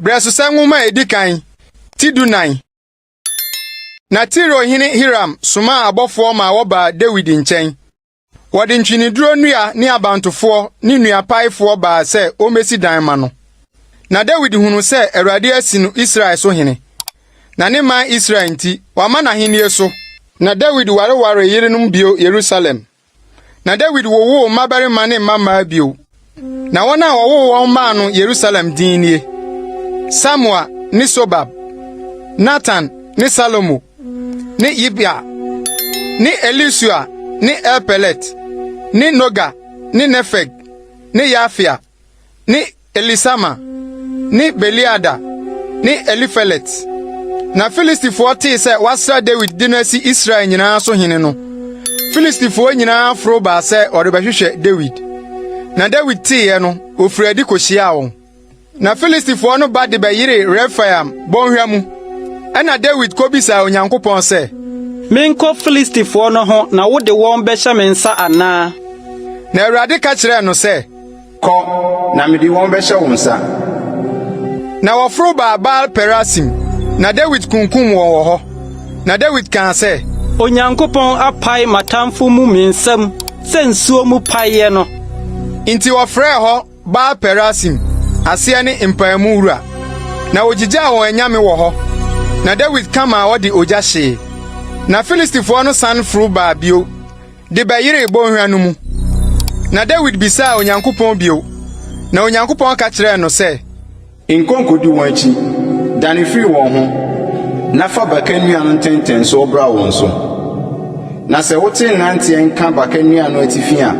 Brɛsosɛ nwoma a edi kan ti dunan. Na Tiro hene Hiram somaa abɔfoɔ ma wɔbaa Dawid nkyɛn. Wɔde ntweneduro nnua ne abantofoɔ ne nnuapaefoɔ baa sɛ wɔmmɛsi dan ma no. Na Dawid hunu sɛ Awurade asi no Israel so hene. Na ne man Israel nti, wama n'ahenni so. Na Dawid warewaree yerenom bio Yerusalem. Na Dawid wowoo mmabarima ne mmammaa bio. Na wɔn a wɔwoo wɔn maa no Yerusalem din nie, Samua ne Sobab, Natan ne Salomo ne Yibha ne Elisua ne Elpelet ne Noga ne Nefeg ne Yafia. ne Elisama ne Beliada ne Elifelet. Na Filistifoɔ tee sɛ wɔasra Dawid de no asi Israel nyinaa so hene no, Filistifoɔ nyinaa foro baa sɛ wɔrebɛhwehwɛ Dawid. Na Dawid teeɛ no, ɔfirii adi kɔhyiaa wɔn. Na Filistifoɔ no ba de bɛyeree Refaim bɔnhwa mu. Ɛnna Dawid kɔbisaa Onyankopɔn sɛ, Menkɔ Filistifoɔ no ho na wode wɔn bɛhyɛ me nsa anaa? Na Awurade ka kyerɛɛ no sɛ, Kɔ, na mede wɔn bɛhyɛ wo nsa. Na wɔforo baa Baal-Perasim, na Dawid kunkum wɔn wɔ hɔ. Na Dawid kaa sɛ. Onyankopɔn apae m'atamfo mu me nsam sɛ nsuo mu paeɛ no. Enti wɔfrɛɛ hɔ Baal-Perasim, aseɛ ne Mpaemu Wura. Na wɔgyigyaa wɔn anyame wɔ hɔ, na Dawid ka maa wɔde ogya hyee. Na Filistifoɔ no san foro baa bio. de bɛyeree bɔnhwa no mu. Na Dawid bisaa Onyankopɔn bio, na Onyankopɔn ka kyerɛɛ no sɛ, Nkɔ nkodi wɔn akyi, dane firi wɔn ho, na fa baka nnua no ntɛntɛnsoɔ bra wɔn so. Na sɛ wote nnanteɛ nka baka nnua no atifi a,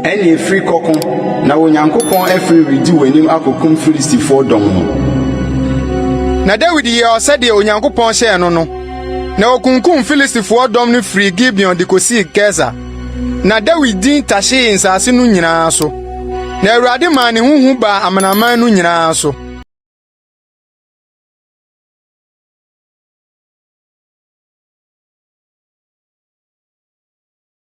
ɛnneɛ firi kɔko, na Onyankopɔn afiri redi w'anim akɔkum Filistifoɔ dɔm no. Na Dawid yɛɛ sɛdeɛ Onyankopɔn hyɛɛ no no. na wɔkunkum Filistifoɔ dɔm no firii Gibeon de kɔsii Geser. Na Dawid din tahyee nsase no nyinaa so, na Awurade maa ne ho hu baa amanaman no nyinaa so.